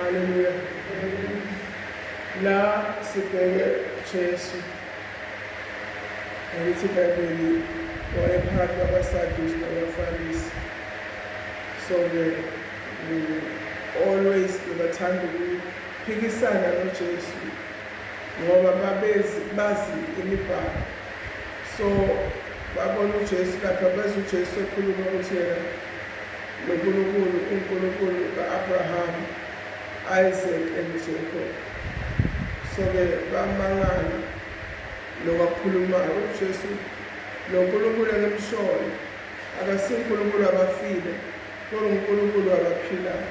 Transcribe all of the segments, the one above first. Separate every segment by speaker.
Speaker 1: Hallelujah. La sibheke Jesu. Angithi iBhayibheli wayephakathi kwabaSadusi nabaFarisi. So-ke always bebathanda ukuphikisana noJesu ngoba babezi bazi imibhalo. So babona uJesu lapha bezwa uJesu ekhuluma ukuthi yena noNkulunkulu uNkulunkulu ka-Abrahama Isaac and Jacob soke bamangala lokakhulumayo uJesu lo Nkulunkulu enimshoyo akasi Nkulunkulu wabafile kodwa uNkulunkulu wabaphilayo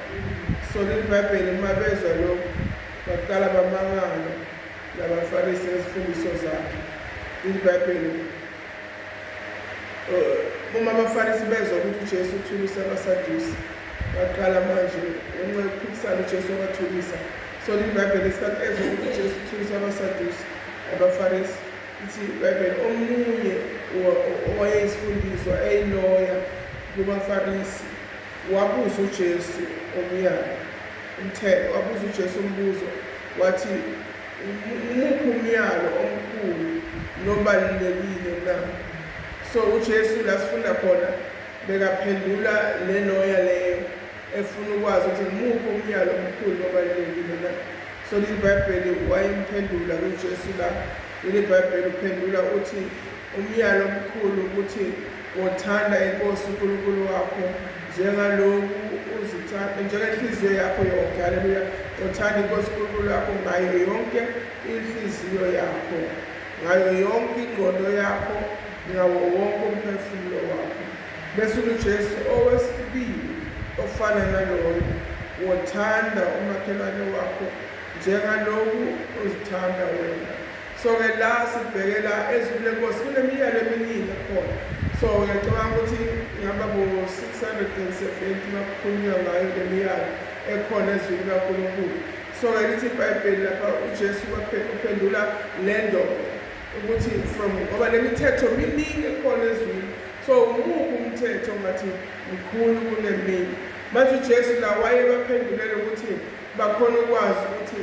Speaker 1: so leli Bhayibheli uma bezwa lokhu baqala bamangala labaFarisi ngezifundiso zakhe leli Bhayibheli Eh, uma abafarisi bezwa ukuthi uJesu uthulisa abasadusi baqala manje ngenxa yokuphikisana uJesu wabathulisa so libhayibheli esikhathi ezwa ukuthi uJesu uthulisa abasadusi abafarisi ithi ibhayibheli omunye owayeyisifundiswa eyiloya kubafarisi wabuza uJesu omyalo umthetho wabuza uJesu umbuzo wathi Umuphi umyalo omkhulu nobalulekile na? So uJesu la sifunda khona bekaphendula le loya leyo efuna ukwazi ukuthi ngumuphi umyalo omkhulu nobalulekile na? So leli Bhayibheli wayimphendula kuJesu la. Leli Bhayibheli uphendula uthi umyalo omkhulu ukuthi Wothanda iNkosi uNkulunkulu wakho njengaloku uzithanda, njengenhliziyo yakho yonke. Haleluya. Wothanda iNkosi uNkulunkulu wakho ngayo yonke inhliziyo yakho, ngayo yonke ingqondo yakho, ngawo wonke umphefumulo wakho. Bese uJesu owesibili ofana naloyo, wothanda umakhelwane wakho njengaloku uzithanda wena. so ke la sibhekela ezulu lenkosi kunemiyalo eminingi ekhona so ngiyacabanga ukuthi ngihamba bo-670 makukhulunywa ngayo le miyalo ekhona ezwini kankulunkulu so ke lithi ibhayibheli lapha ujesu uphendula le ndoda ukuthi from ngoba le mithetho miningi ekhona ezwini so umuphi umthetho ngathi mkhulu kunemini manje ujesu la wayebaphendulele ukuthi bakhona ukwazi ukuthi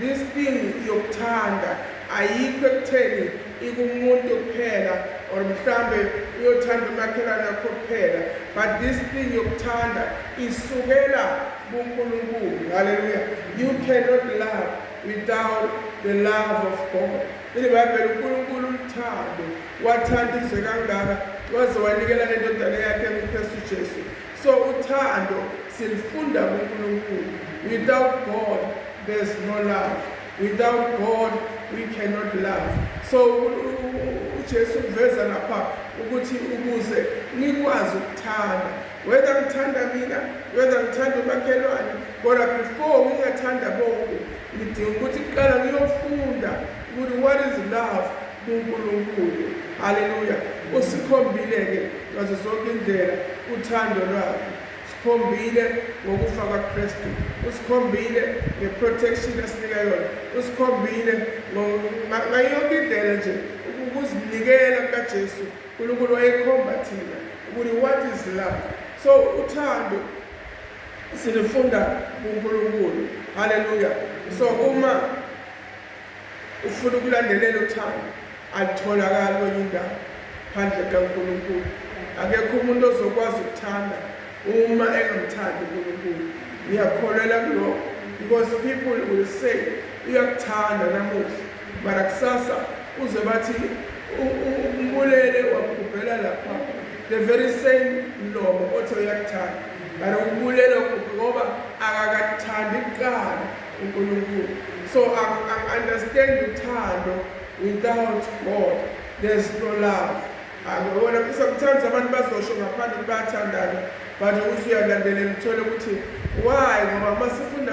Speaker 1: This thing yokuthanda ayikho ekutheni ikumuntu kuphela or mhlambe uyothanda umakhelwane wakho kuphela but this thing yokuthanda isukela kuNkulunkulu haleluya you cannot love without the love of God ilibhayibheli uNkulunkulu uthando wathanda izwe kangaka waze wanikela nendodana yakhe uKristu Jesu So uthando silifunda kuNkulunkulu. Without God there's no love. Without God we cannot love. So uJesu uveza lapha ukuthi ukuze nikwazi ukuthanda whether ngithanda mina whether ngithanda umakhelwane kodwa before ngingathanda bonke ngidinga ukuthi kuqala ngiyofunda ukuthi what is love kuNkulunkulu. Haleluya! Usikhombile-ke ngazo zonke indlela uthando lwakhe. Sikhombile ngokufa kaKristu, usikhombile ngeprotection asinika yona, usikhombile ngayo yonke indlela nje ukuzinikela kukaJesu. uNkulunkulu wayekhomba thina ukuthi what is love. So uthando silifunda kuNkulunkulu. Haleluya! So uma Ufuna ukulandelela uthando alutholakali kwenye indawo phandle kaNkulunkulu. Akekho umuntu ozokwazi ukuthanda uma engamthandi uNkulunkulu. Ngiyakholelwa kulokho because people will say uyakuthanda namuhla mara kusasa uze bathi umbulele wakugubhela lapha the very same mlomo othi uyakuthanda mara umbulele wakugubhe ngoba akakathandi kuqala uNkulunkulu so ang ang understand uthando without God there's no love angibona sometimes abantu bazosho ngaphandle ukuthi bayathandana but ukuthi uyalandelela uthole ukuthi why ngoba uma sifunda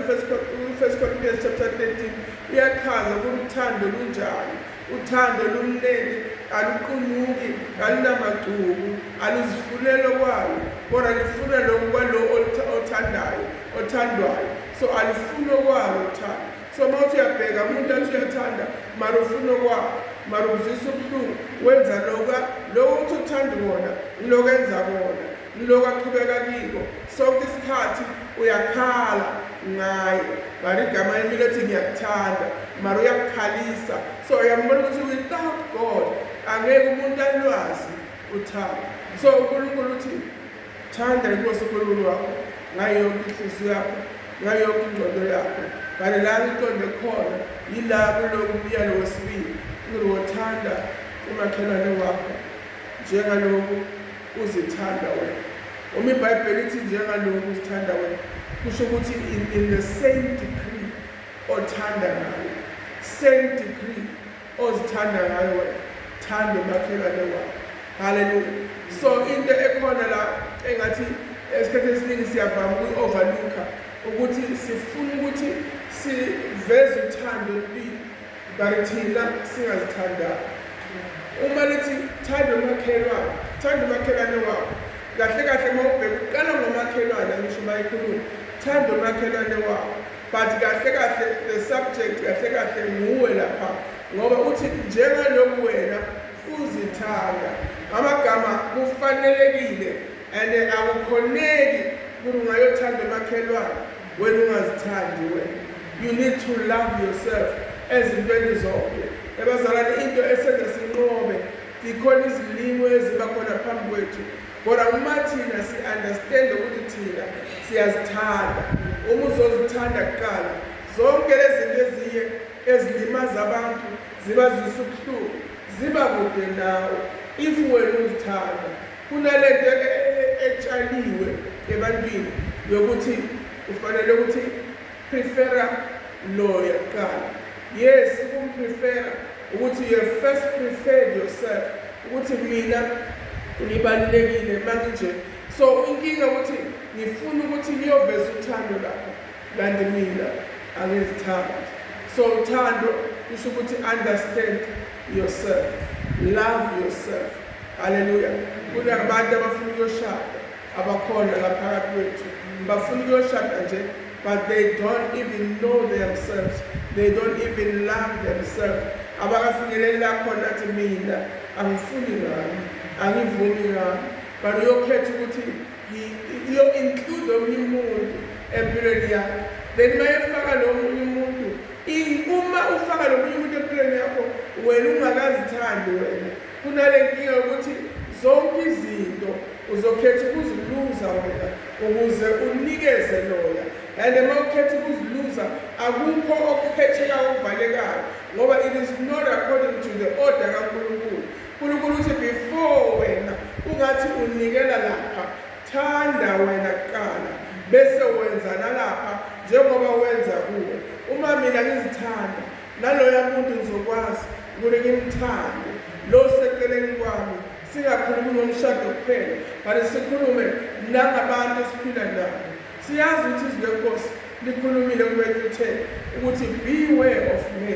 Speaker 1: first corinthians chapter 13 uyachaza ukuthi uthando lunjani uthando lumnene aluqunuki alunamagcubu aluzifulelo kwalo kodwa lifuna lokhu kwalowo othandayo othandwayo so alifuni okwalo uthando so uma uthi uyabheka umuntu athi uyathanda mara ufuna okwakho mara uzisa ubuhlungu wenza loka lowo uthi uthanda wona niloko enza kona niloko aqhubeka kiko sonke isikhathi uyakhala ngaye mara igama limi lethi ngiyakuthanda mara uyakukhalisa so uyambona ukuthi without god angeke umuntu alwazi uthando so unkulunkulu uthi Thanda iNkosi uNkulunkulu wakho ngayo yonke inhliziyo yakho, ngayo yonke ingqondo yakho, kanye lami iqonde khona yila kuloku myalo wesibili ukuthi wothanda umakhelwane wakho njengaloku uzithanda wena. Uma iBhayibheli ithi njengaloku uzithanda wena, kusho ukuthi in, in the same degree othanda ngayo, same degree ozithanda ngayo wena thanda umakhelwane wakho haleluya so into ekhona la engathi esikhathini esiningi siyavama ukuyi-overlooka ukuthi sifuna ukuthi siveze uthando empini but thina singazithandanga uma lithi thanda umakhelwane thanda umakhelwane wakho kahle kahle uma ubheka uqala ngomakhelwane angisho uma ekhuluma thanda umakhelwane wakho But kahle kahle the subject kahle kahle nguwe lapha ngoba uthi njengalokhu wena uzithanda amagama kufanelekile and akukhoneki ukuthi ungayothanda emakhelwane wena ungazithandi wena you need to love yourself ezintweni zonke ebazalane into esenze sinqobe zikhona izilimo eziba khona phambi kwethu Kodwa uma thina si understand ukuthi thina siyazithanda, uma uzozithanda kuqala zonke lezinto eziye ezilimaza abantu ziba zisubuhlungu ziba kude nawe if wena uzithanda kunalento e, e, etshaliwe ebantwini yokuthi ufanele ukuthi Prefera lawyer kuqala. Yes, ukumprefera ukuthi you have first preferred yourself ukuthi mina ngibalulekile manje so inkinga ukuthi ngifuna ukuthi ngiyoveza uthando lapho kanti mina angizithandi so uthando kusho ukuthi understand yourself love yourself haleluya kunabantu abafuna uyoshada Abakhona la phakathi kwethu bafuna ukuyoshada nje but they don't even know themselves they don't even love themselves abakafinyeleli la khona athi mina angifuni ngami angivumi ngami but uyokhetha ukuthi iyo-include omunye umuntu empilweni yakho then uma efaka lo munye umuntu uma ufaka lo munye umuntu empilweni yakho wena ungakazithandi wena Kunale nkinga yokuthi zonke izinto uzokhetha ukuziluza wena ukuze unikeze loya and uma ukhetha ukuziluza akukho okuphetheka okuvalekayo ngoba it is not according to the order kankulunkulu unkulunkulu uthi before wena ungathi unikela lapha thanda wena kuqala bese wenza nalapha njengoba wenza kuwe uma mina ngizithanda Naloya muntu ngizokwazi ukuthi ngimthande lo seceleni kwami singakhulumi ngomshado kuphela but sikhulume nangabantu esiphila nabo siyazi ukuthi izwi lenkosi likhulumile kuwethu uthe ukuthi beware of me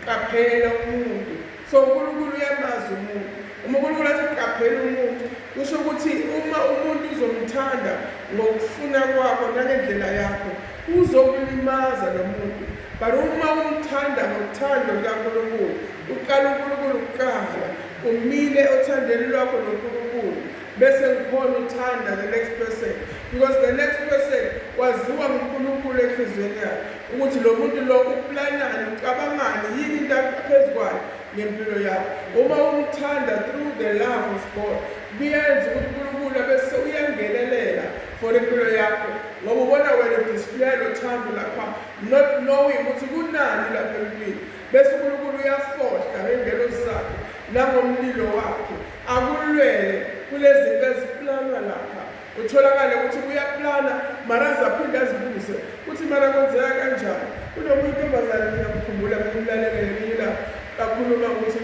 Speaker 1: qaphela umuntu So uNkulunkulu uyamazi umuntu. Uma uNkulunkulu athi uqaphela umuntu, kusho ukuthi uma umuntu uzomthanda ngokufuna kwakho nangendlela yakho, uzokulimaza lo muntu. But uma umthanda ngothando lukaNkulunkulu, uqala uNkulunkulu kuqala, umile othandweni lwakho noNkulunkulu, Bese kukhona uthanda the next person because the next person waziwa nguNkulunkulu enhliziyweni yakhe ukuthi lo muntu lo uplanani ucabangani yini into phezu kwayo ngempilo yakho uma umthanda through the love of God kuyenza ukuthi uNkulunkulu abese uyangenelela for impilo yakho ngoba ubona wena udisplaya lo thando lapha not knowing ukuthi kunani lapha empilweni bese uNkulunkulu uyafohla ngengelo zakhe nangomlilo wakhe Akulwele kulezinto eziplanwa lapha utholakale ukuthi kuyaplana mara zaphinde azibuze kuthi mara kwenzeka kanjani kunomunye intombazane ngiyamkhumbula kumlalele ngelinye ilanga kakhuluma ukuthi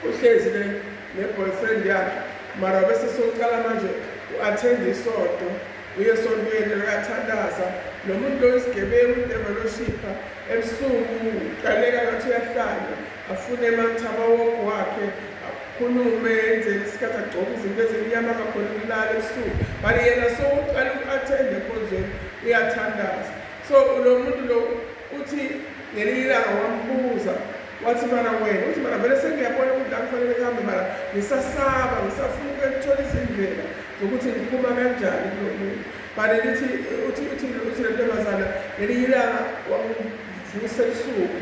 Speaker 1: uhlezi ne-boyfriend yakhe mara bese sokuqala manje u-athenda isonto uye esontweni uyathandaza lo muntu loyo isigebengu udeveloshipha ebusuku uqaleka ngathi uyahlanya afune amathaba woku wakhe akhulume enzele isikhathi agcoke izinto ezimnyama angakhona ukulala ebusuku but yena so uqala uku-athenda enkonzweni uyathandaza so lo muntu lo uthi ngelinye ilanga wambuza wathi mara wena uthi mara vele sengiyabona ukuthi la kufanele kuhambe mara ngisasaba ngisafuna ukuthola izindlela zokuthi ngiphuma kanjani kulo muntu but lithi uthi uthi uthi le ntombazana ngelinye ilanga wamuvusa ebusuku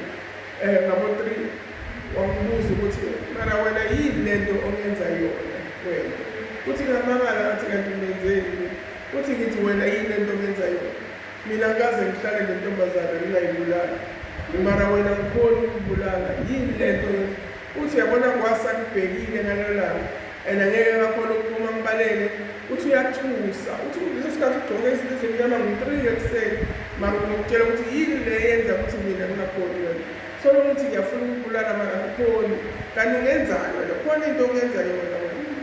Speaker 1: Eh ngabo 3 wangibuza ukuthi mara wena yini lento ongenza yona wena. Uthi ngamangala ngathi kanti ngenzeni. Uthi ngithi wena yini lento ongenza yona. Mina ngaze ngihlale nentombazana ngingayibulali. Mara wena ngikhona ukubulala yini lento Uthi uyabona Ngwazi akubhekile ngalelo langa and angeke ngakhona ukuphuma ngibalele. Uthi uyathusa. Uthi kuleso sikhathi ugcoke izinto ezimnyama ngo-three ekuseni makutshela ukuthi yini le yenza ukuthi mina ngingakhoni yona. So noma uthi ngiyafuna ukubulala mara angikhoni. Kanti ungenzani wena? Khona into ongenza yona wena.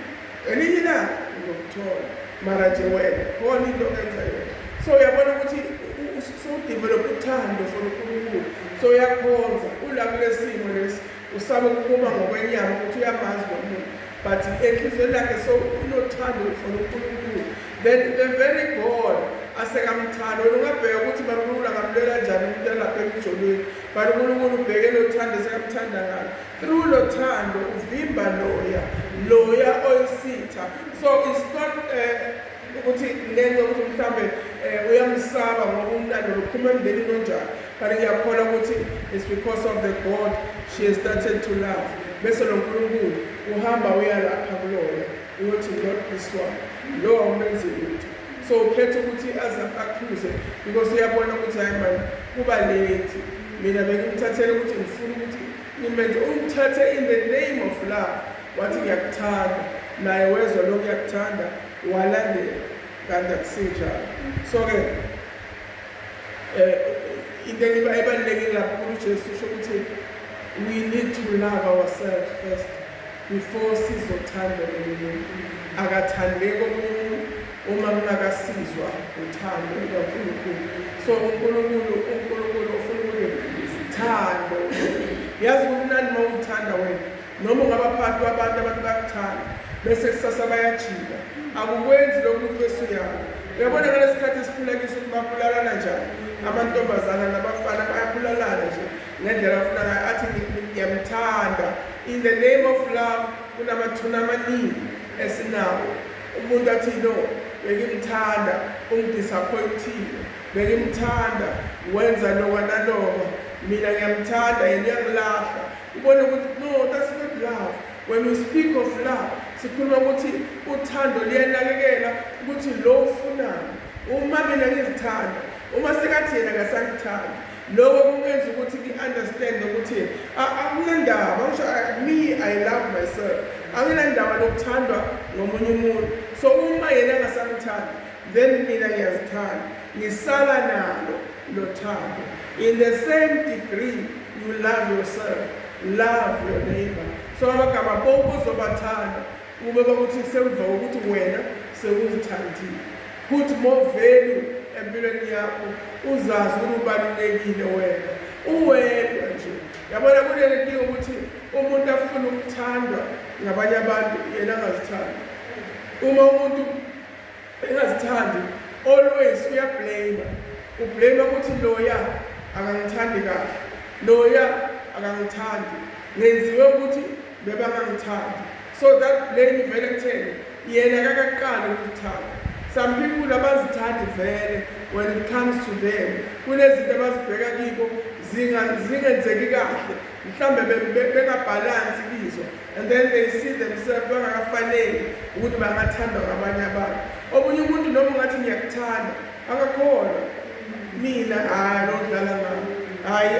Speaker 1: Elinye ilanga uzokuthola. Mara nje wena khona into ongenza yona. So uyabona ukuthi u- u- sewudevelop uthando for uNkulunkulu. So uyakhonza ula kulesimo lesi. Usaba ukukhuluma ngokwenyama ukuthi uyamazi lo muntu but enhliziyweni yakhe so unothando ufuna unkulunkulu then the very god asekamthanda wena ungabheka ukuthi bankulunkulu angamlwela njani umuntu alapha emijolweni but unkulunkulu ubheke lo thando esekamthanda ngalo through lo thando uvimba loya loya oyisitha so it's not uh, ukuthi ngenxa ukuthi mhlawumbe um uyamsaba ngoba umntana lophuma emndenini onjani kanti ngiyakholwa ukuthi it's because of the god she has started to love bese lo nkulunkulu uhamba uyalapha kulona uyothi not this one lo awumenzi lutho so ukhetha ukuthi aze akhuze because uyabona ukuthi hayi mani kuba late mina bengimthathele ukuthi ngifuna ukuthi ngimenze umthathe in the name of love Wathi ngiyakuthanda naye wezwa lokhu uyakuthanda walandela kanti akusinjalo so ke eh into ebalulekile lapho uJesu usho ukuthi we need to love ourselves first before sizothanda omunye umuntu akathandeki omunye umuntu uma kungakasizwa uthando lukaNkulunkulu so uNkulunkulu uNkulunkulu ufuna ukuthi sithando yazi kumnandi uma uthanda wena Noma ungabaphathi babantu abantu bakuthanda bese kusasa bayajika. Akukwenzi lokhu ukuthi bese uyawo. Uyabona ngalesi sikhathi esiphila kiso ukuthi babulalana njani. Amantombazana nabafana bayabulalana nje ngendlela afuna ngayo athi ngiyamthanda. In the name of love kunamathuna amaningi esinawo. Umuntu athi no bengimthanda ungidisappointile bengimthanda wenza loka naloka mina ngiyamthanda yena uyangilahla Ubona ukuthi no that's not love. When we speak of love, sikhuluma ukuthi uthando liyanakekela ukuthi lo ufunayo. Uma mina ngizithanda, uma sekathi yena ngasangithanda. Lokho kungenza ukuthi ngi-understand ukuthi akunandaba, ngisho me I love myself. Anginandaba nokuthandwa ngomunye umuntu. So uma yena ngasangithanda then mina ngiyazithanda ngisala nalo nothando in the same degree you love yourself love your neighbor so abagaba bonke ozobathanda kube bakuthi semva ukuthi wena sewuzithandile put more value empilweni yakho uzazi ukuthi ubalulekile wena uwedwa nje yabona kuleli nkinga ukuthi umuntu afuna ukuthandwa ngabanye abantu yena angazithandi uma umuntu engazithandi always uyablame ublame ukuthi loya akangithandi kahle loya akangithandi ngenziwe ukuthi bebangangithandi so that blame vele kutheni yena kakaqali ukuthanda some people abazithandi vele when it comes to them kunezinto abazibheka kibo zingenzeki kahle mhlawumbe bengabhalansi kizo and then they see themselves bangakafaneli ukuthi bangathandwa ngabanye abantu omunye umuntu noma ungathi ngiyakuthanda akakholwa mina hhayi lo dlala ngami hhayi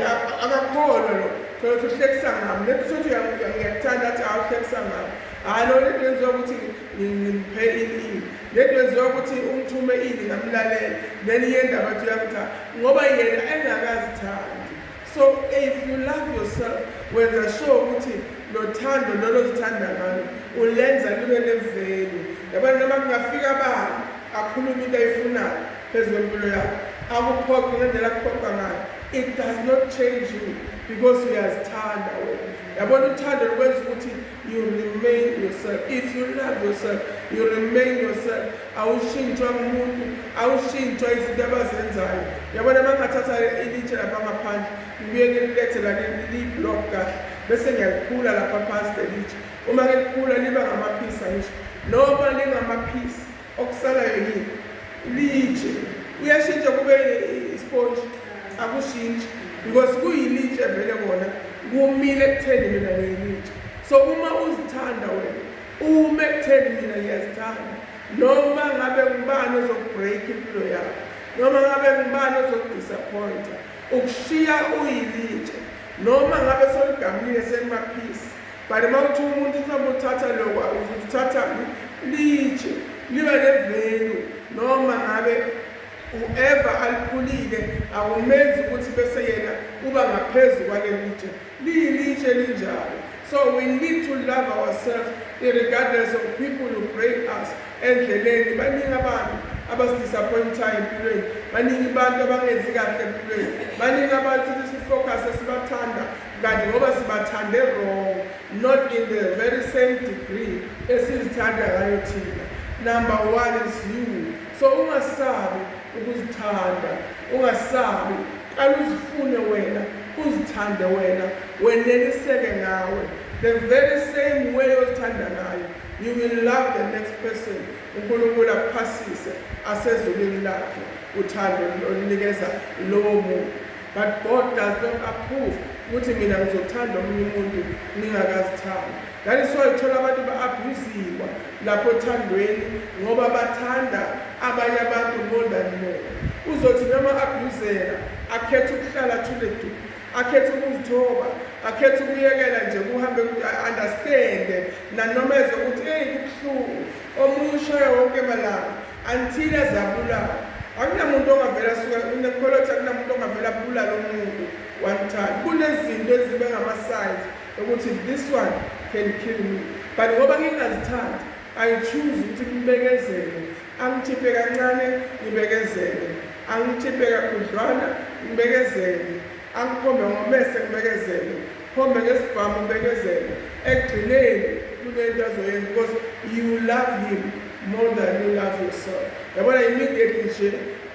Speaker 1: akakholwa lo thola ukuthi uhlekisa ngami le kusho ukuthi ngiyakuthanda athi hawu uhlekisa ngami hhayi lo lento yenziwa ukuthi ngimuphe ini lento yenziwa ukuthi umthume ini ngamlalele then yendaba athi uyakuthanda ngoba yena engakazithandi So if you love yourself, wenza sure ukuthi nothando lolo zithanda ngalo ulenza libe nevelu. Yabona noma kungafika abani akhuluma into ayifunayo phezu kwempilo yakho. Akuphoqi ngendlela kuphoqa ngayo. It does not change you because uyazithanda wena. Yabona uthando lukwenza ukuthi You remain yourself. If you love yourself, you remain yourself. Awushintshwa umuntu, awushintshwa izinto abazenzayo. Yabona bangathatha ilitshe lapha ngaphandle, ngibuye ngililethe la liyi-block kahle, bese ngiyaliphula lapha phansi lelitshe. Uma ngiliphula liba ngamaphisi angisho. Noma lingamaphisi, Okusalayo yini? Litshe. Uyashintsha kube isponji. Akushintshi because kuyilitshe vele kona kumile ekutheni mina ngiyilitshe. So uma uzithanda wena ume ekutheni mina ngiyazithanda noma ngabe ngubani ozokubreak impilo yakho noma ngabe ngubani ozokudisappointa ukushiya uyilitshe noma ngabe soligamile selimaphisi But uma kuthi umuntu mhlawumbe uthatha lokho ukuthi uthathani litshe liba nevelu noma ngabe whoever aliphulile akumenzi ukuthi bese yena uba ngaphezu kwalelitshe liyilitshe elinjalo so we need to love ourselves irregardless of people who break us endleleni baningi abantu abasidisappointa empilweni baningi abantu abangenzi kahle empilweni baningi abantu sithi sifocuse sibathanda Kanti ngoba sibathande wrong not in the very same degree esizithanda ngayo thina. Number one is you. So ungasabi ukuzithanda, ungasabi qala uzifune wena, uzithande wena, weneliseke ngawe. The very same way ozithanda ngayo you will love the next person unkulunkulu akuphasise asezulwini lakhe uthando olunikeza lowo muntu But God does not approve ukuthi mina ngizothanda omunye umuntu ningakazithandi. That is why uthola abantu ba-abuziwa lapho othandweni ngoba bathanda abanye abantu more than more. Uzothi noma abuzela akhethe ukuhlala athule du akhethe ukuzithoba akhethe ukuyekela nje kuhambe understand nanoma eze ukuthi eyi kubuhlungu omunye ushaye wonke malanga Until azabulawa. Akunamuntu ongavela asuke unekholothi akunamuntu ongavela abulala umuntu one time. Kunezinto ezibe ngama-signs ukuthi this one can kill me. But ngoba ngingazithandi, I choose ukuthi ngibekezele. Angithiphe kancane, ngibekezele. Angithiphe kakhudlwana, ngibekezele. Angikhombe ngomese, ngibekezele. Khombe ngesibhamu ubekezele ekugcineni kunento azoyenza because you love him more than you love yourself yabona immediate nje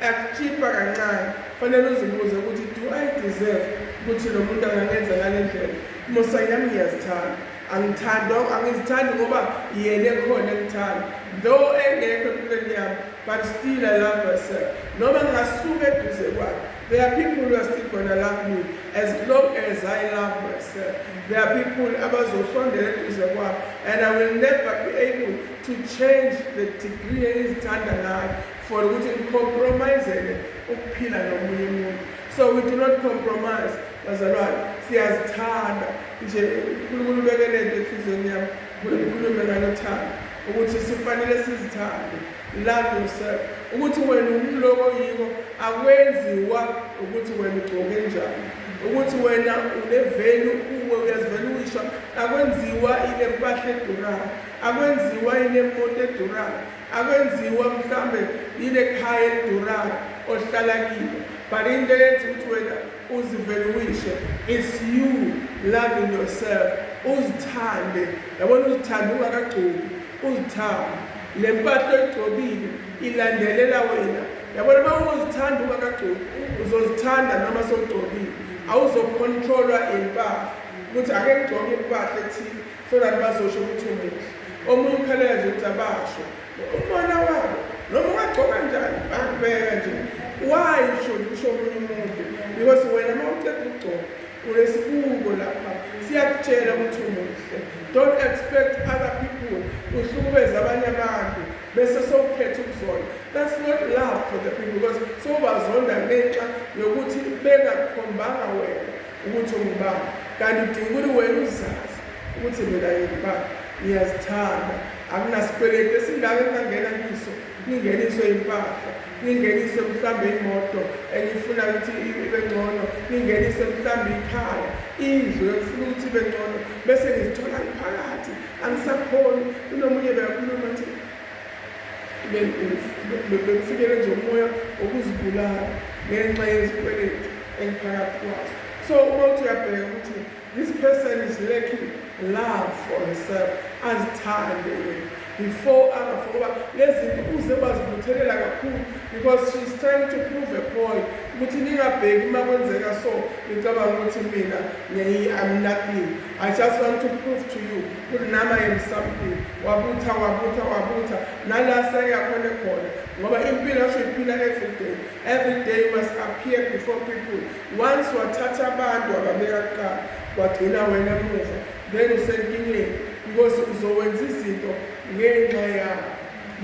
Speaker 1: akuchipa kancane fanele uzibuze ukuthi do i deserve ukuthi lo muntu angangenza ngale ndlela musa yami ngiyazithanda angithandi angizithandi ngoba yena ekhona engithanda though engekho empilweni yami but still i love myself noma ngingasuka eduze kwakhe There are people who are still gonna love me as long as I love myself. There are people abazosondela eduze kwami and I will never be able to change the degree engizithanda ngayo for ukuthi ngicompromisele ukuphila nomunye umuntu. So we do not compromise bazalwane siyazithanda nje uNkulunkulu ubeke lento enhliziyweni yami uNkulunkulu ukhulume ngalothando ukuthi sifanele sizithande Love yourself. Ukuthi wena umloko oyiko akwenziwa ukuthi wena ugcoke njani. Ukuthi wena unevelu uwe uyazivela uyisho akwenziwa ile mpahla edurayo. Akwenziwa ile moto edurayo. Akwenziwa mhlambe ile khaya edurayo ohlala kilo. But into ethi ukuthi wena uzivele uyisho is you loving yourself. Uzithande. Yabona uzithande ungakagcoki. Uzithanda le mpahla oyigcobile ilandelela wena yabona uma ungozithanda ungakagcobi uzozithanda noma sowugcobile awuzokhontrolwa impahla ukuthi ake ngigcoke impahla ethile so that bazosho ukuthi umuhle omunye ukhalela nje ukuthi abasho umona wabo noma ungagcoka njani bakubeka nje why should kusho omunye umuntu because wena uma uceda ukugcoka Unesibuko lapha siyakutshela ukuthi umuhle. Don't expect other people uhlukumeza abanye abantu bese sokukhetha ukuzona. That's not love for the people because sowubazonda ngenxa yokuthi bengakukhombanga wena ukuthi ungubani. Kanti udinga ukuthi wena uzazi ukuthi mina ngingubani. Ngiyazithanda. Akunasikweleti esingaka engangena kiso. ningeniswe impahla ningenise mhlawumbe imoto enifuna ukuthi ibe ngcono ningenise mhlawumbe ikhaya indlu efuna ukuthi ibe ngcono bese ngizithola ngiphakathi angisakhoni kunomunye beyakhuluma nje bengifikele nje umoya wokuzibulala ngenxa yezikweletu engiphakathi kwazo so uma uthi uyabheka ukuthi This person is lacking love for herself. Azithande yena before other for ngoba lezinto uze wazibuthelela kakhulu because she is trying to prove a point ukuthi ningabheki uma kwenzeka so ngicabanga ukuthi mina I'm nothing. I just want to prove to you ukuthi nami I am something. Wabutha wabutha wabutha nala seyakhona khona ngoba impilo asho iphila every day. Every day you must appear before people. Once wathatha abantu wababeka kuqala wagcina wena emuva then usenkingeni because uzowenza izinto ngenxa yakho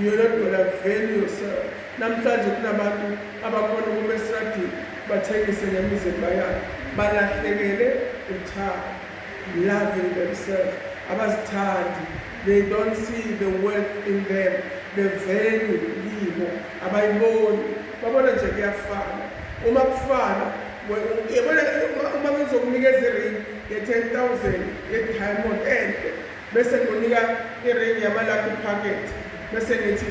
Speaker 1: yona dola value yourself namhlanje kunabantu abakhona ukuma esradini bathengise nemizimba yabo balahlekele uthando loving themselves abazithandi they don't see the worth in them the value kibo abayiboni Babona nje kuyafana. Uma kufana yabona uma ngizokunikeza iring ye-ten thousand ye-diamond enhle bese ngonika iring yamalakhi pocket bese ngithi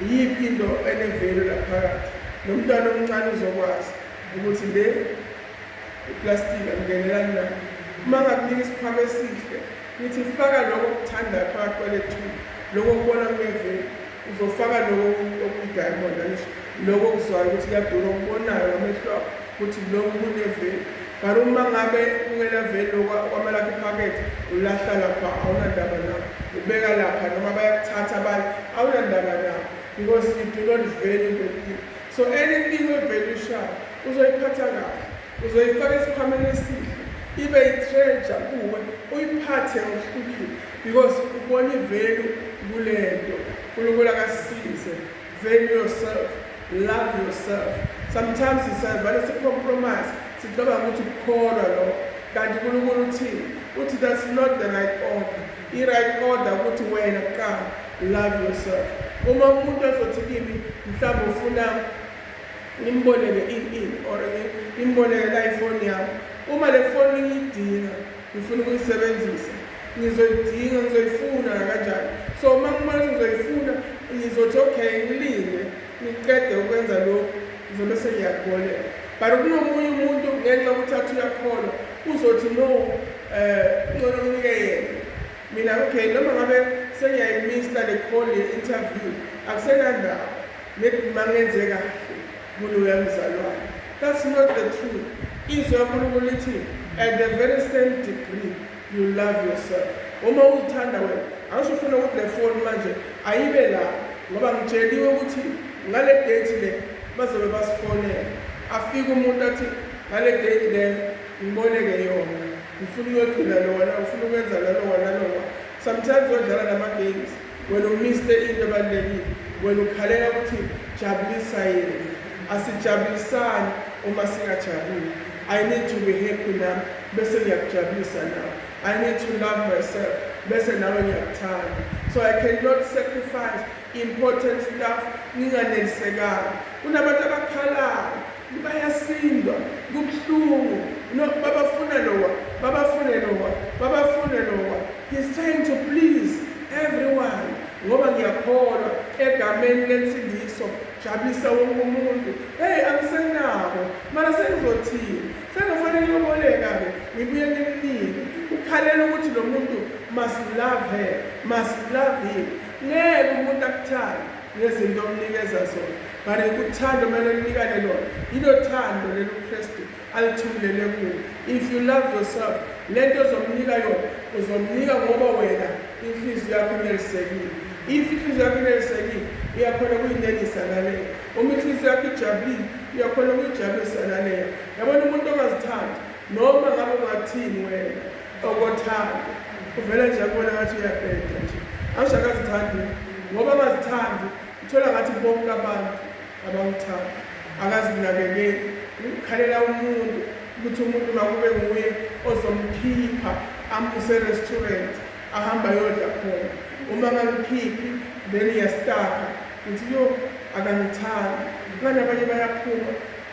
Speaker 1: yiphi into enevelu laphakathi nomntwana omncane uzokwazi ukuthi le iplastiki angenelani nayo uma ngakunika isiphako esihle ngithi faka lokho okuthanda phakathi kwale thuba lokho kubona kunevelu Uzofaka lokho okuyi-diamond angisho lokho okuzwayo ukuthi kuyadura okubonayo ngamehlo akho ukuthi lokhu kuneveli but uma ngabe kungenaveli kwamalakho iphakethe ulahla lapha awunandaba nabo ubeka lapha noma bayakuthatha abanye awunandaba nabo because you do not value the thing so anything oyivelishayo uzoyiphatha kahle uzoyifaka esikhwameni esihle ibe itreja kuwe uyiphathe ngokuhlukile because ubona ivelu kule nto unkulunkulu akasize value yourself love yourself sometimes sisavale sicompromise sicabanga ukuthi ukukholwa lo kanti unkulunkulu uthini uthi that's not the right order i-right order ukuthi wena kuqala love yourself uma umuntu ezothi kimi mhlawumbe ufuna Ngimboleke in in or ngimboleke la ifoni yami. Uma le foni ngiyidinga, ngifuna ukuyisebenzisa. Ngizoyidinga, ngizoyifuna nakanjani. So uma ngibona ukuthi ngizoyifuna, ngizothi okay ngilinde ngiqede ukwenza lokhu, ngizobe sengiyakuboleka. But kunomunye umuntu ngenxa yokuthi athi uyakholwa, uzothi no, um ngcono nginike yena. Mina okay noma ngabe sengiyayimista le call ye-interview akusenandaba. Maybe mangenze kahle kuloya mzalwane. That's not the truth. Izwi kaNkulunkulu lithi at the very same degree you love yourself. Uma uzithanda wena, angisho ufuna ukuthi le phone manje ayibe la ngoba ngitsheliwe ukuthi ngale date le bazobe basifonela. Afike umuntu athi ngale date le ngiboleke yona. Ngifuna uyogcina lona, ngifuna ukwenza lona lona lona. Sometimes odlala nama games Wena umiste into ebalulekile, wena ukhalela ukuthi jabulisa yena. Asijabulisani uma singajabuli. I need to be happy nami bese ngiyakujabulisa nawe. I need to love myself bese nawe ngiyakuthanda. So I cannot sacrifice important stuff nginganelisekanga. Kunabantu abakhalayo Bayasindwa kubuhlungu no babafuna lowa babafune lowa babafune lowa he's trying to please everyone ngoba ngiyakholwa egameni lensindiso jabulisa wonke umuntu hey angisenabo mara sengizothini sengifanele yoboleka-ke ngibuye ngimnike ukhalela ukuthi lo muntu must love her must love him ngeke umuntu akuthanda nezinto omnikeza zona but uthando kumele linikane lona yilo thando leli ukristu alithumulele kuwo if you love yourself le nto ozomnika yona uzomnika ngoba wena inhliziyo yakho inelisekile if inhliziyo yakho inelisekile uyakhona ukuyinelisa naleyo uma inhliziyo yakho ijabulile uyakhona ukuyijabulisa naleyo yabona umuntu ongazithandi noma ngabe ungathini wena okothando uvele nje akubona ngathi uyabheda nje asho akazithandi ngoba akazithandi uthola ngathi bonke abantu abamthanda akazinakekeli ukukhalela umuntu ukuthi umuntu makube nguye ozomkhipha amuse restaurant ahamba yodla khona uma ngangikhiphi then iyastaka ngithi yo akangithandi ngani abanye bayaphuma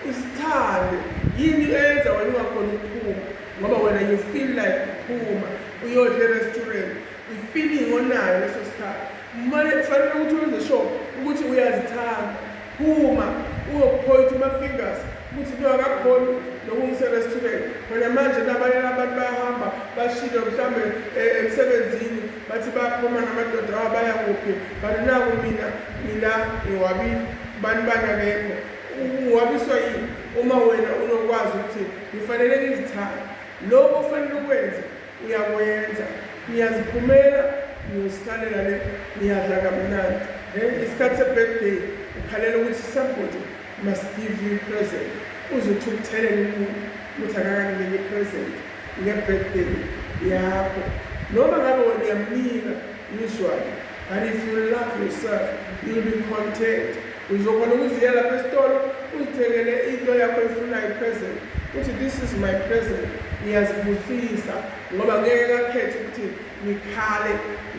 Speaker 1: usithande yini eyenza wena ungakhona ukuphuma ngoba wena you feel like uphuma uyodla erestaurant ifeeling onayo leso sikhathi mane kufanele ukuthi wenze sure ukuthi uyazithanda phuma uyokuphoyitha ama-fingers ukuthi no akakhoni nokungiserestaurant khona manje nabanye abantu bayahamba bashile mhlawumbe eh, emsebenzini bathi bayaphuma namadoda awa baya kuphi kanti naku mina mina ngiwabile bani bani akekho uwabiswa yini uma wena unokwazi ukuthi Ngifanele ngizithande. Lokho ofanele ukwenze uyakwenza. Ngiyaziphumela, ngiyozihlalela le, ngiyadla kamnandi. He, isikhathi se-birthday ukhalela ukuthi somebody must give you present. Uze uthi ukuthelele umuntu ukuthi akakanginike i-present nge-birthday yakho. Noma ngabe wena uyamnika Usually. But if you love yourself, you'll be content. Uzokona ukuziyela lapha esitolo, uzithengele into yakho efunayo present. Uthi this is my present. Ngiyazibusisa ngoba ngeke kakhethe ukuthi ngikhale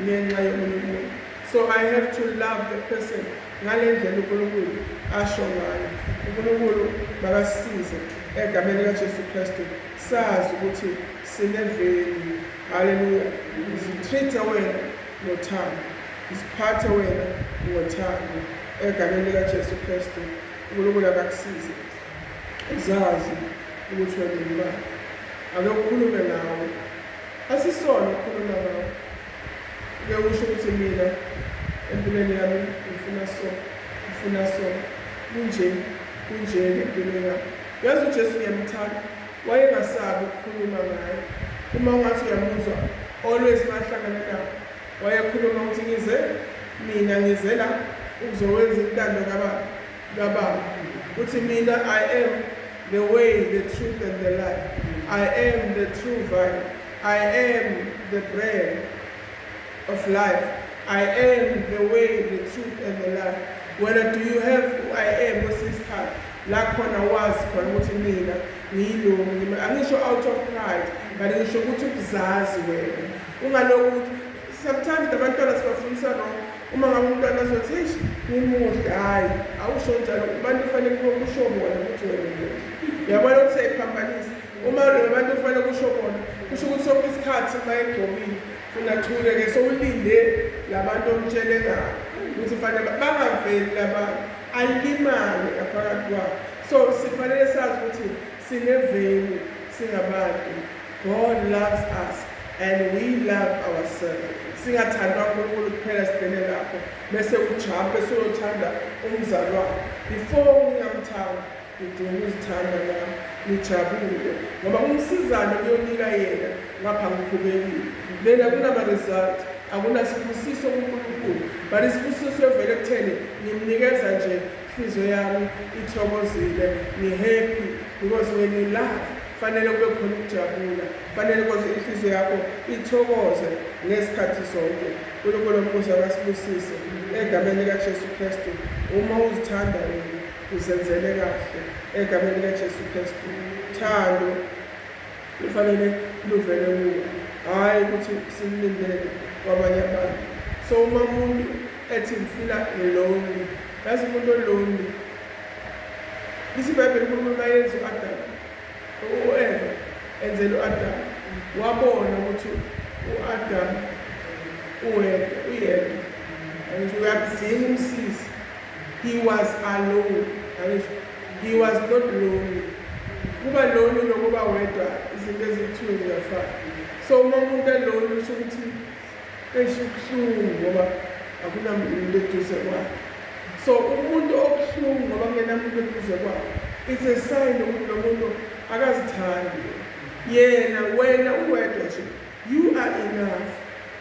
Speaker 1: ngenxa yomunye umuntu. So I have to love the person ngale ndlela uNkulunkulu asho ngayo. uNkulunkulu makasisize egameni likaJesu Kristu sazi ukuthi sineveli Hallelujah. Ngizitreat-e wena ngothando. Ngiziphathe wena ngothando. Egameni likaJesu Kristu, uNkulunkulu akakusize. Uzazi ukuthi wena ungubani. Ake ukhulume nawe. Asisona ukukhuluma nawe. Ke usho ukuthi mina empilweni yami ngifuna so, ngifuna so. Kunje, kunje empilweni yami. Yazi uJesu ngiyamthanda. Wayengasabi ukukhuluma ngaye. Uma ungathi uyamuzwa, always mahlangana nawo, wayekhuluma ukuthi ngize mina ngize la ukuzowenza intando kababa kababa. Uthi mina I am the way, the truth and the life. I am the true vine. I am the bread. of life I am the way the truth and the life wena do you have I am kwesinye isikhathi la khona wazi khona ukuthi mina ngiyilungu angisho out of pride but ngisho ukuthi ukuzazi wena ungaloku ukuthi sometimes abantwana sibafundisa wrong uma ngabe umntwana azothi eish ngimuhle hhayi awusho njalo abantu kufanele kusho bona ukuthi wena muhle uyabona ukuthi seyiphambanisa uma lona abantu kufanele kusho bona kusho ukuthi sonke isikhathi uma egcobile Funa thule ke sowulinde labantu omtshele ngabo ukuthi fanele bangaveli labantu alimale ngaphakathi kwabo so sifanele sazi ukuthi sineveli singabantu God loves us and we love ourselves singathandwa uNkulunkulu kuphela sibhene lapho bese ujampe soyothanda umzalwane before ngingamthanda Nidinga ukuzithanda la nijabule ngoba uMsizane kuyonika yena ngapha ngikhubekile. Lena kunama result akunasibusiso kuNkulunkulu but isibusiso siyovela ekutheni ngimnikeza nje inhliziyo yami ithokozile ngihappy because when you love fanele kube khona ukujabula fanele koze inhliziyo yakho ithokoze ngesikhathi sonke uNkulunkulu ombuzo akasibusise egameni likaJesu Kristu uma uzithanda wena Uzenzele kahle egameni likaJesu Kristu. Thando lufanele luvele kuwe, hhayi ukuthi sililindele kwabanye abantu. So uma umuntu ethi ngifila lonely, yazi umuntu olonely lithi ibhayibheli unkulunkulu bayenza u-adam u-eva enzela u-adam wabona ukuthi u-adam uwedwa uyedwa angisho uyakudinga umsizi He was alone, yabezwa. He was not lonely. Ukuba lonely nokuba wedwa izinto eziyi-two ziyafana. So uma umuntu elonely usho ukuthi esho ubuhlungu ngoba akunamuntu eduze kwakhe. So umuntu obuhlungu ngoba kungenamuntu eduze kwakhe it's a sign ukuthi lo muntu akazithandi yena wena uwedwa nje You are enough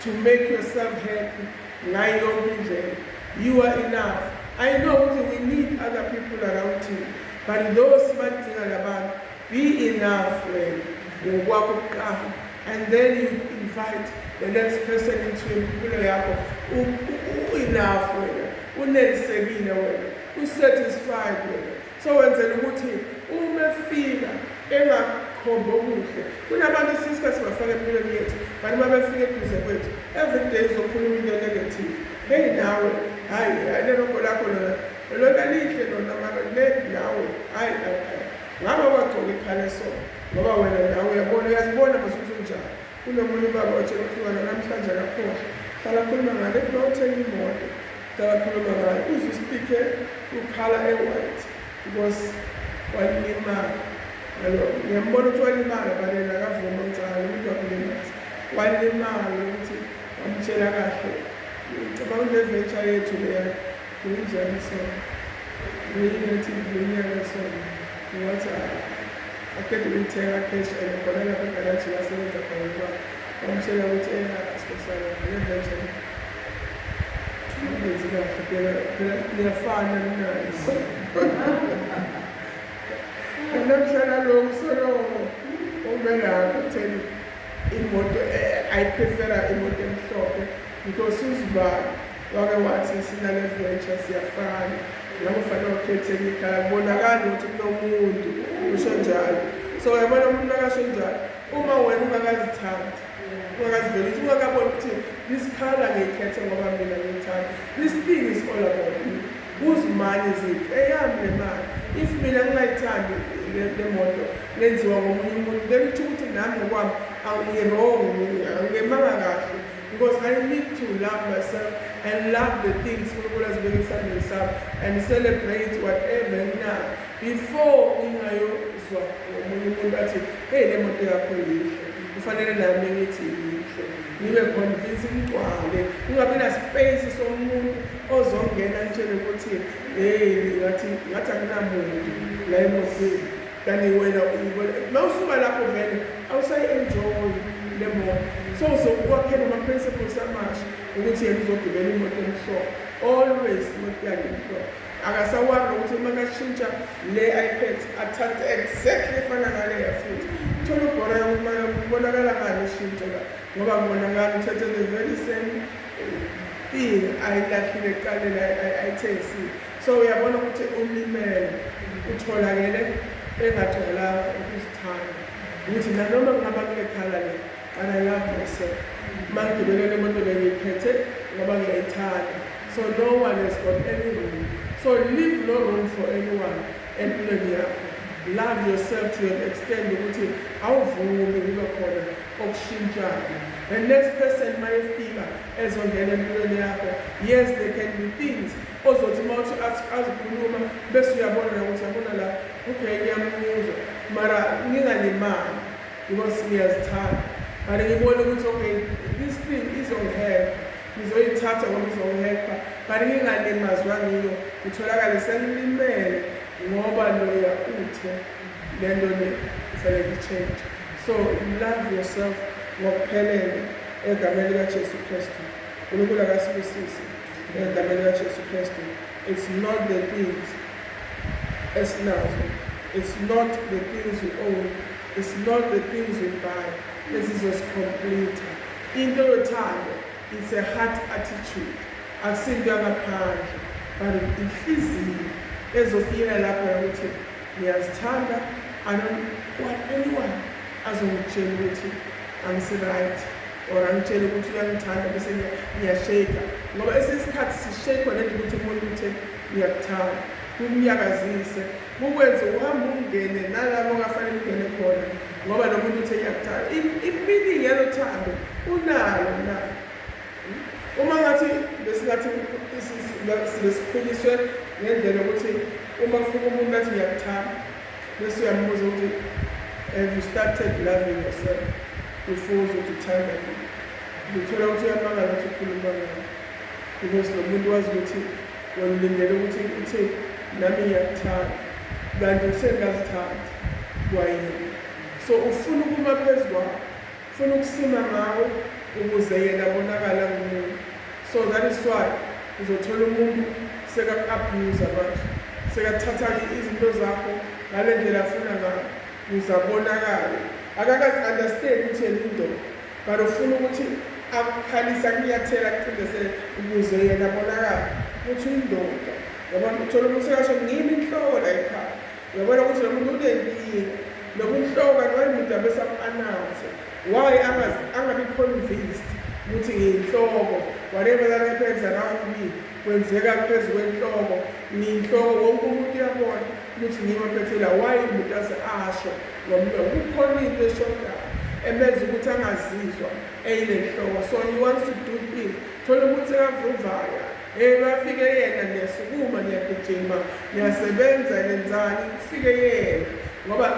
Speaker 1: to make yourself happy ngayo yonke indlela. You are enough. I know ukuthi we need other people around thina but though sibadinga labantu be enough wena ngokwakho kuqala and then you invite the next person into impilo yakho u-enough wena unelisekile wena usatisfied wena So wenzela ukuthi uma efika engakhombi okuhle kunabantu esiske sibafaka empilweni yethu bantu babefika eduze kwethu everyday izokhuluma into negative heyi nawe hhayi leloko lakho lona lona lihle lona mara le nawe hhayi ngaba wagcoka iphaleso ngoba wena nawe uyabona uyazibona masuthi unjani Kunomunye ubaba otshela ukuthi umngane namhlanje akakhohlwa. Hlala akhuluma ngale kuba uthenga imoto. Hlala akhuluma ngayo. Uzwe isipikhe ukhala e-white because walimala. Yalo, ngiyambona ukuthi walimala balena akavuma ucala umuntu wakulimaza. Walimala ukuthi wamtshela kahle. Ngicabanga ukuthi le venture yethu leya Kunjani so? Ngenye ngathi ngilonyaka so ngathi aqeda ukuyithenga cash and khona lapha egaraji lasebenza khona ukuba wamtshela ukuthi eya sibosana ngevenjani ngenzi kahle phela phela liyafana linazo namhlala lo msolomo ume lapho utheni imoto ayiprefera imoto emhlophe because uzibani Wake wathi sina ne venture siyafana ngakho fanele ukhethe enye ikhaya kubonakala ukuthi kunomuntu usho njalo so yabona umuntu nakasho njalo uma wena ungakazithandi ungakaziveli ukuthi ungakabona ukuthi this color ngiyikhethe ngoba mina ngiyithanda this thing is all about me uzimali zethu eyami le mali if mina ngingayithandi le moto lenziwa ngomunye umuntu then kutho ukuthi nami ngokwami angiyirong angemanga kahle Because I need to love myself and love the things uNkulunkulu azibeke esandleni sami and celebrate whatever na before ngingayozwa ngomunye umuntu athi hey le moto yakho yinhle kufanele nami ngithi yinhle ngibe convince ngigcwale kungabi naspace somuntu ozongena ngitshele ukuthi hey ngathi ngathi akunamuntu la emotweni Kanti wena uyibona mawusuka lapho vele awusayi enjoy le moto so uzokwakhela ama principles amasha ukuthi yena uzogibela imoto emhlophe always imoto yakhe emhlophe akasawari ukuthi uma kashintsha le ipad athathe exactly efana naleya futhi thola ubhora yokuba kubonakala ngani ushintsho la ngoba kubonakala uthathe the very same thing ayilahlile kuqalela ayithengisile So uyabona ukuthi umlimele utholakele engagcwalanga ukuzithanda ukuthi nanoma kungaba kule khala le but I love myself mangibelele imoto lengiyiphethe ngoba ngiyayithanda so no one has got any room so leave no room for anyone empilweni yakho love yourself to an extent ukuthi awuvumi kube khona okushintshayo the next person mayefika ezongena empilweni yakho yes there can be things Ozothi uma uthi ask azikhuluma bese uyabona la ukuthi yabona la okay ngiyamuzwa mara ngingalimali because ngiyazithanda mara ngibone ukuthi okay this thing izongihelpa ngizoyithatha ngoba izongihelpa mara ngingalimazwa ngiyo ngitholakale sengilimele ngoba loya uthe le nto le kufanele i-change so love yourself ngokuphelele egameni likajesu kristu unkulunkulu akasibusise Ngegama likaJesu Kristu, it's not the things esinazo, it's not the things we own, it's not the things we buy ezizosicompleter. Into yothando, it's a heart attitude, akusinto yangaphandle, but inhliziyo ezofikela lapho yokuthi ngiyazithanda, I don't want anyone azongitshela ukuthi angisiright. or angitshele ukuthi uyangithanda bese ngiyasheka ngoba esinye isikhathi sishekwa nento ukuthi umuntu uthe uyakuthanda kumnyakazise kukwenze uhambe ungene nalabo ongafanele ungene khona ngoba lo muntu uthe uyakuthanda iminingi yalo thando unalo na uma ngathi besingathi besikhuliswe ngendlela yokuthi uma kufika umuntu athi ngiyakuthanda Bese uyambuza ukuthi have you started loving yourself before uzothi uthanda mina? Ngithola ukuthi uyamakala ukuthi ukhuluma ngami because lo muntu wazi ukuthi wangilindele ukuthi uthi nami ngiyakuthanda kanti usengazithandi kwayini so ufuna ukuma phezu kwakho Funa ukusima ngawo ukuze yena abonakale angumuntu so that is why uzothola umuntu sekaku abuser manje sekathatha izinto zakho ngale ndlela afuna ngayo ukuze abonakale akakazi understand ukuthi yena indoda but ufuna ukuthi akukhalise akunyathela akucindezele ukuze yena abonakale ukuthi uyindoda ngoba uthola umuntu sekasho ngimi inhloko la ekhaya Uyabona ukuthi lo muntu unenkinga. Lo muntu hloko kanti wayemuntu abesamu-announce. Why angabi convinced ukuthi ngiyinhloko. Whatever that happens around me kwenzeka phezu kwenhloko. Ngiyinhloko wonke umuntu uyabona ukuthi ngimaphethela why umuntu aze asho ngomlomo. Kukhona into eshodayo emenza ukuthi angazizwa eyinenhloko. So he wants to do things. Thola umuntu sekavuvaya. Hey bafike yena niyasukuma niyagijima niyasebenza nenzani kufike yena ngoba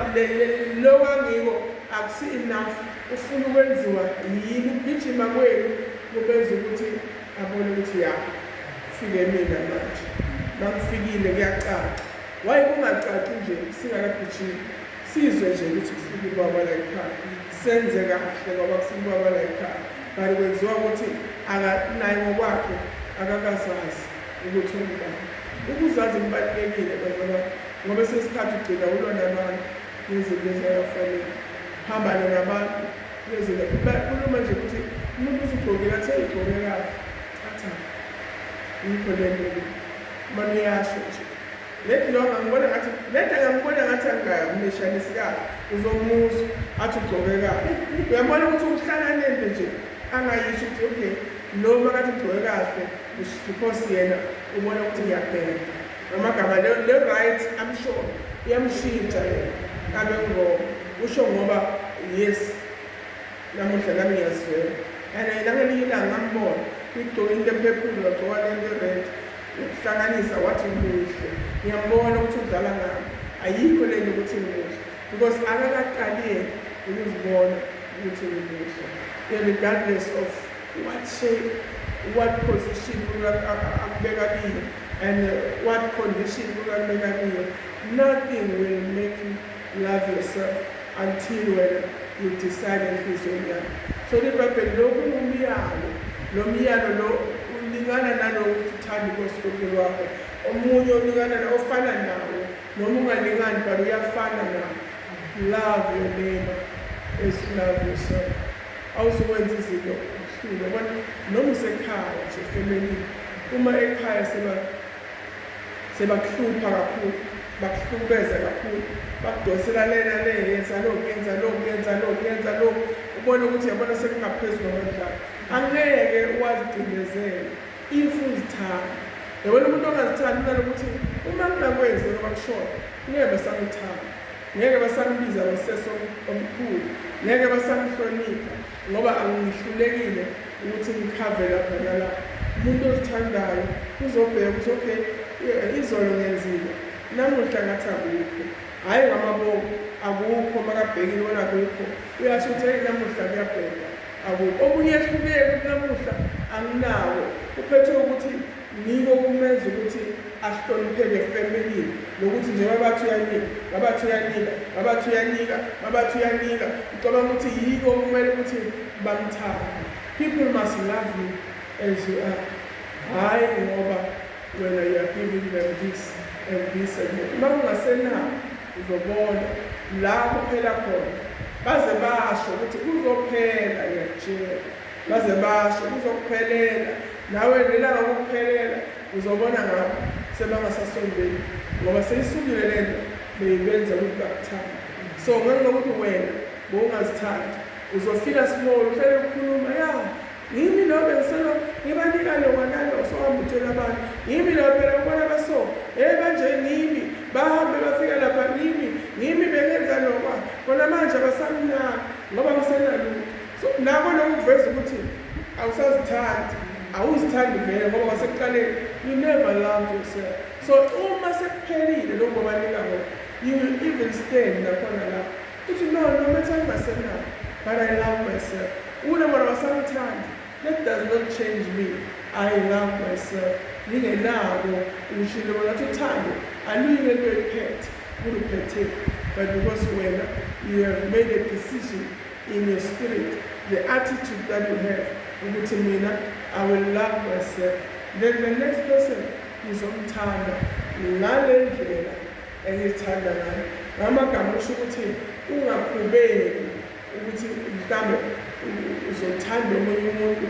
Speaker 1: lo wangiko akusi enough ufuna ukwenziwa yini ukugijima kwenu kubenza ukuthi abone ukuthi ya fike mina manje makufikile kuyacaca waye kungacaci nje singakagijimi Sizwe nje ukuthi kufika ubaba la ekhaya senze kahle ngoba kufika ubaba la ekhaya kanti kwenziwa ukuthi naye ngokwakhe akakazazi ukuthi ungubani ukuzazi kubalulekile bazaba ngoba sesikhathi ugcina ulwa nabantu nezinto ezayafanele hambane nabantu nezinto kuluma nje ukuthi umuntu uzigqokile athe igqoke kahle atha yikho le nto uma niyasho nje Maybe lo angangibona ngathi lento angangibona ngathi angingamnishanisi kahle uzomuzwa athi ugcoke kahle uyabona ukuthi uhlala nento nje angayisho ukuthi okay lo makathi ugcoke kahle because yena ubona ukuthi ngiyabheka ngamagama le-right i'm sure uyamshintsha yena kabe ngirong usho ngoba yes namuhla nami ngiyazwela and nangelinye ilanga ngambona igcoke into ephephulu wagcoka lento e-red Ukuhlanganisa wathi muhle. Ngiyambona ukuthi udlala ngami. Ayikho lento ukuthi muhle. Because akakaqali yena ukuzibona ukuthi ngimuhle. Regardless of what shape, what position akubeka kiyo and what condition akubeka kiyo. Nothing will make Love yourself until wena you decide enhlizweni yakho. Sona ibhayibheli lo kungumyalo. Lo myalo lo ulingana nalowo ukuthi uthanda inkosi uNkulunkulu wakho. Omunye ulingana na ofana nawo noma ungalingani but uyafana nawo. Love your neighbor as you love yourself. Awuzokwenza izinto uhlule. Yabona noma usekhaya nje efemelini uma ekhaya seba Sebakuhlupha kakhulu, bakuhlukumeza kakhulu, bakudonsela lena le, yenza lokhu, yenza lokhu, yenza lokhu, yenza lokhu, ubone ukuthi yabona sekungaphezulu amandla akho. Angeke wazicindezela if uzithanda. Yabona umuntu ongazithandi unalokuthi uma kunakwenze noma kushona, ngeke basamuthanda, ngeke basambiza ngosesi omkhulu, ngeke basamhlonipha. Ngoba angihlulekile ukuthi ngikhave lapha nalapha. Umuntu ozithandayo uzobheka ukuthi okay izolo ngenzile namuhla ngathi akukho. Hhayi ngamabomu akukho makabhekile ubona akukho uyasho ukuthi hey namuhla kuyabheka akukho. Okunye ehlukile ukuthi namuhla anginawo uphethwe ukuthi Yiko okumenza ukuthi ahlonipheke family nokuthi njengoba bathi uyanika babathi uyanika babathi uyanika babathi uyanika ucabanga ukuthi yiko okumele ukuthi bamthande people must love you as you are hhayi ngoba wena you are giving them this and this and that uma ungasenawo uzobona la kuphela khona baze basho ukuthi kuzophela yatshela Baze basho kuzokuphelela nawe ngelanga kokuphelela uzobona ngabo sebangasasondeli ngoba seyisukile lento beyibenza ukuthi bakuthanda so ngenxa ukuthi wena bowungazithandi uzofika small uhlele ukukhuluma ya yimi lo bengiselo ngibanika lowa nalo sohamba utshela abantu yimi lo phela ubona baso hey banje ngimi bahambe bafika lapha ngimi ngimi bengenza lokwa kona manje abasamnaka ngoba ngisenalutho Futhi nako lokhu kuveza ukuthi awusazithandi, awuzithandi vele ngoba kwasekuqaleni you never loved yourself. So uma sekuphelile lokhu obanika ngoba you will even stand nakhona lapho uthi no no matter myself but I love myself. Ule mara wasangithandi that does not change me. I love myself. Ngingenako ngishilo bona ukuthi uthando aluyike into ephethe kuluphethe but because wena you have made a decision in your spirit the attitude that you have ukuthi mina i will love myself then the next person ngizomthanda ngale ndlela engizithanda ngayo ngamagama usho ukuthi ungakhubeki ukuthi mhlawumbe uzothanda omunye umuntu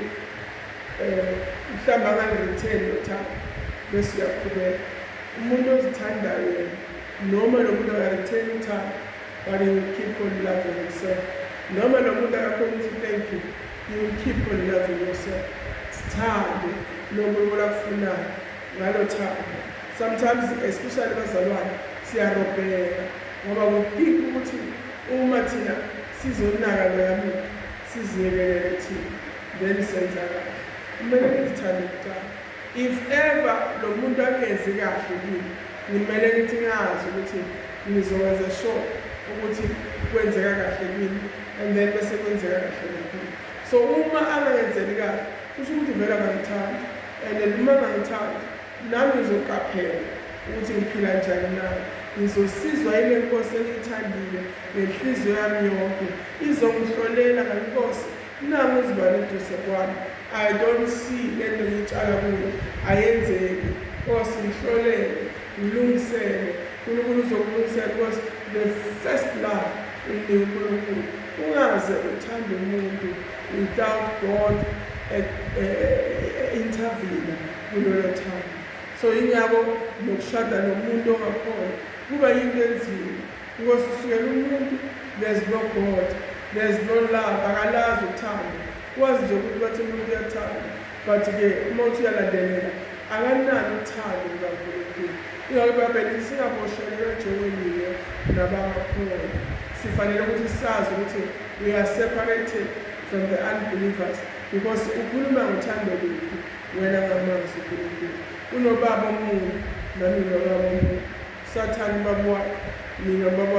Speaker 1: um mhlawumbe anganiritheni lothanda bese uyakhubeka umuntu ozithandayo yena noma lo muntu akaritheni uthanda But he will keep on loving himself. Noma nomuntu akakhona ukuthi thank you. You will keep on loving yourself. Sithande nomuntu olakufunayo ngalo thando. Sometimes especially bazalwane siyarobheka ngoba we think ukuthi uma thina sizonaka loya muntu siziyekelele thina then senza kahle. Kumele ngizithande kuqala. If ever lomuntu akenzi kahle kimi ngimele ngithi ngazi ukuthi ngizokwenza sure ukuthi kwenzeka kahle kimi and then bese kwenzeka kahle nakimi. So uma angangenzeli kahle kusho ukuthi vele akangithandi and then uma angangithandi nami ngizoqaphela ukuthi ngiphila njani naye. Ngizosizwa yile Nkosi engiyithandile ngenhliziyo yami yonke. Izongihlolela ngeNkosi Nangu uZibani eduze kwami. I don't see lento ngitshala kuyo ayenzeki. Nkosi ngihlolele, ngilungisele. Nkulunkulu uzokulungisela because the first love unika uNkulunkulu. Ungaze uthande umuntu without God eh, eh, intervene kulolo thando. So ingakho nokushada nomuntu ongakhona kuba yinto enzima. Nkosi sukela umuntu there's no God there's no love akalazi uthando wazi nje ukuthi bathi umuntu uyathanda but ke uma uthi uyalandelela akanalo uthando lukaNkulunkulu ingakho ibabhele singabosheleka ejowenile nabangakhona sifanele ukuthi sazi ukuthi we are separated from the unbelievers because ukhuluma ngothando luphi wena ngamazwi uNkulunkulu Unobaba omunye nami nobaba omunye sathane ubaba wakhe mina ubaba wakhe.